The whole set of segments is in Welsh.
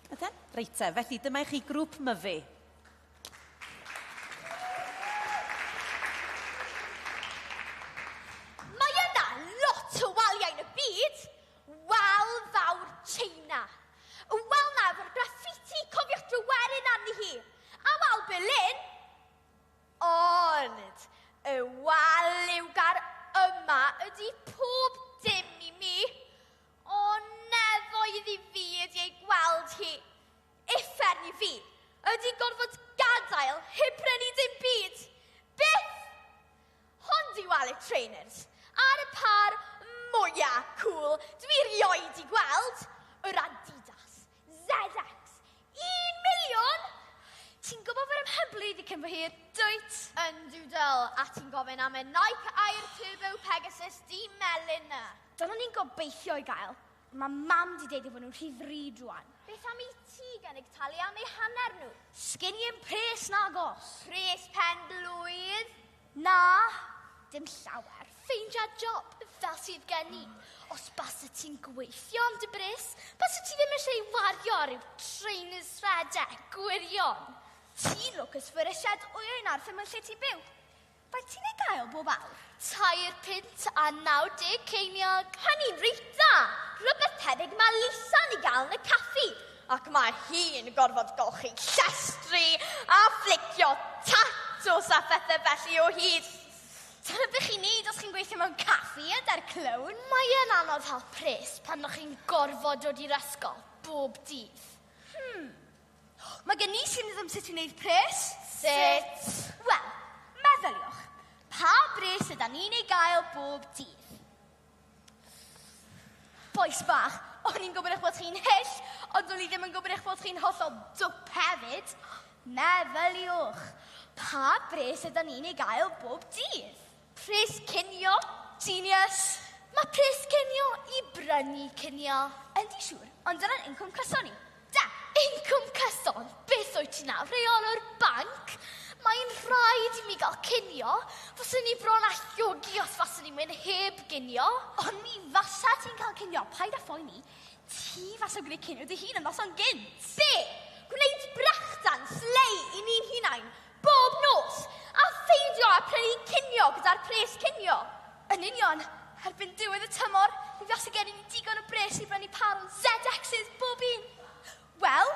Ydyn? Reit te, felly dyma i chi grŵp myfi. Mae yna lot o waliau yn y byd. Wal fawr China. Y wal na efo'r graffiti, cofiwch dryweryn arni hi. A wal Berlin. Ond y wal liwgar yma ydy pob dim i mi. O nefoedd i fi ydi ei gweld hi. Uffern i fi. Ydi gorfod gadael heb brynu dim byd. Byth! Hon di Wallet Trainers. Ar y par mwya cool dwi rioed di gweld. Yr Adidas. ZX! Un miliwn? Ti'n gwybod fod e'n hyblyg ddiccyn fy hir, dwyt? Yn doodle, a ti'n gofyn am y Nike Air Turbo Pegasus di melyn na. Dyna ni'n gobeithio ei gael, ond mae mam di deud ei fod nhw'n rhy ddrud rwan. Beth am i ti gynnig talu am eu hanner nhw? Sgin i 'im pres nagos! Pres pen-blwydd? Na, dim llawer. Ffeindia job fel sydd gen i. Os base ti'n gweithio am dy bris, base ti ddim eisiau ei wario ar ryw trainers rhedeg, gwirion. Ti'n lwcus fod y sied wyau yn arfer mewn lle ti'n byw. Faint ti'n ei gael bob awr? Tair punt a 90 ceiniog. Hynny'n reit dda! Rhywbeth tebyg mae Lisa'n ei gael yn y caffi. Ac mae hi'n gorfod golchi llestri a fflicio tatws a phethau felly o hyd. Dyna beth chi'n neud os chi'n gweithio mewn caffi a da'r clown. Mae e'n anodd hel pres pan ydych chi'n gorfod dod i'r ysgol bob dydd. Hmm. Mae gen i syniad am sut i wneud pres. Sut? Wel, meddyliwch, pa bres yda ni'n ei gael bob dydd? Bois bach, o'n i'n gwybod eich bod chi'n hyll, ond o'n i ddim yn gwybod eich bod chi'n hollol dwp hefyd. Meddyliwch, pa bres ydyn ni'n ei gael bob dydd? Pres cinio, genius. Mae pres cinio i brynu cinio. Yndi, siŵr, ond dyna'n incwm cyson ni. Da! Incwm cyson! Beth wyt ti nawr, rheolwr banc? Mae'n rhaid i mi gael cinio. Faswn i bron â llogi os faswn i'n mynd heb ginio. Ond mi fasa ti'n cael cinio, paid â phoeni. Ti fasa gwneud cinio dy hun yn noson gynt. Be? Gwneud brechdan slei i ni'n hunain, bob nos, a pheidio â prynu cinio gyda'r pres cinio? Yn union! Erbyn diwedd y tymor, mi fase gen i ni digon o bres i brynu pâr o ZXs bob un! Wel,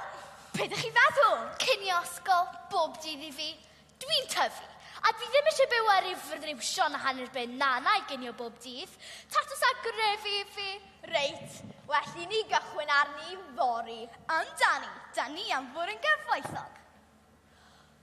be dych chi'n feddwl? Cinio ysgol bob dydd i fi? Dwi'n tyfu, a dwi ddim eisiau byw ar ryw friwsion a hanner ben na na i ginio bob dydd. Tatws a grefi i fi! Reit, well i ni gychwyn arni fory. Amdani, 'da ni am fod yn gyfoethog!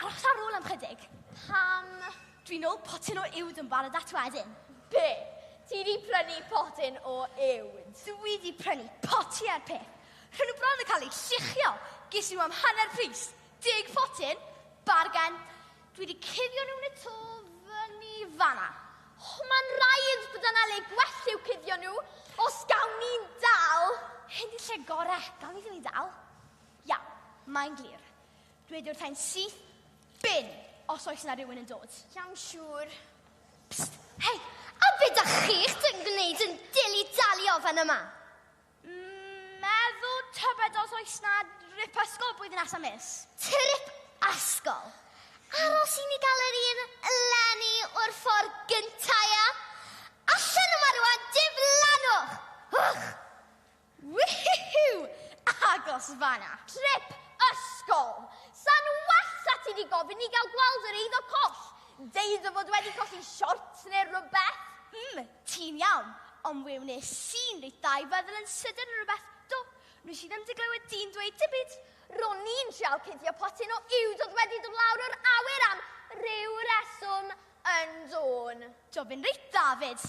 Aros ar ôl am chydig. Pam? Dwi'n ôl potyn o uwd yn barod at wedyn. Be? Ti di prynu potyn o uwd? Dwi di prynu poti ar peth. Rhyn nhw bron yn cael eu lluchio. Ges i nhw am hanner pris. Deg potyn. Bargen. Dwi wedi cuddio nhw'n y to fyny fanna. Oh, Mae'n rhaid bod yna le gwell i'w cuddio nhw, os gawn ni'n dal. Hyn di lle gore, gawn ni ddim i dal. Iawn, mae'n glir. Dweud wrthau'n syth, bin, os oes na rhywun yn dod. Iawn, siŵr. Psst, hei, a be da chi'ch dyn gwneud yn dili dalio fan yma? Meddwl tybed os oes na rip ysgol blwyddyn nesa mis. Trip ysgol? Aros i ni gael yr un eleni o'r ffordd gyntaf, ia? Allan yma rwan, diflannwch! Wch! Wihiw! Agos fanna! Trip ysgol! Sa'n well a ti di gofyn i gael gweld yr eiddo coll? Deud o fod wedi colli siort neu rhywbeth? Mm, ti'n iawn, ond we wnes i'n reit dda i feddwl yn sydyn ar rhywbeth. Do, nes i ddim di glywed di'n dweud dim byd. Ro'n i'n trial cuddio potyn o uwd oedd wedi dod lawr o'r awyr am ryw reswm yn dôn. Do, fe'n reit dda 'fyd.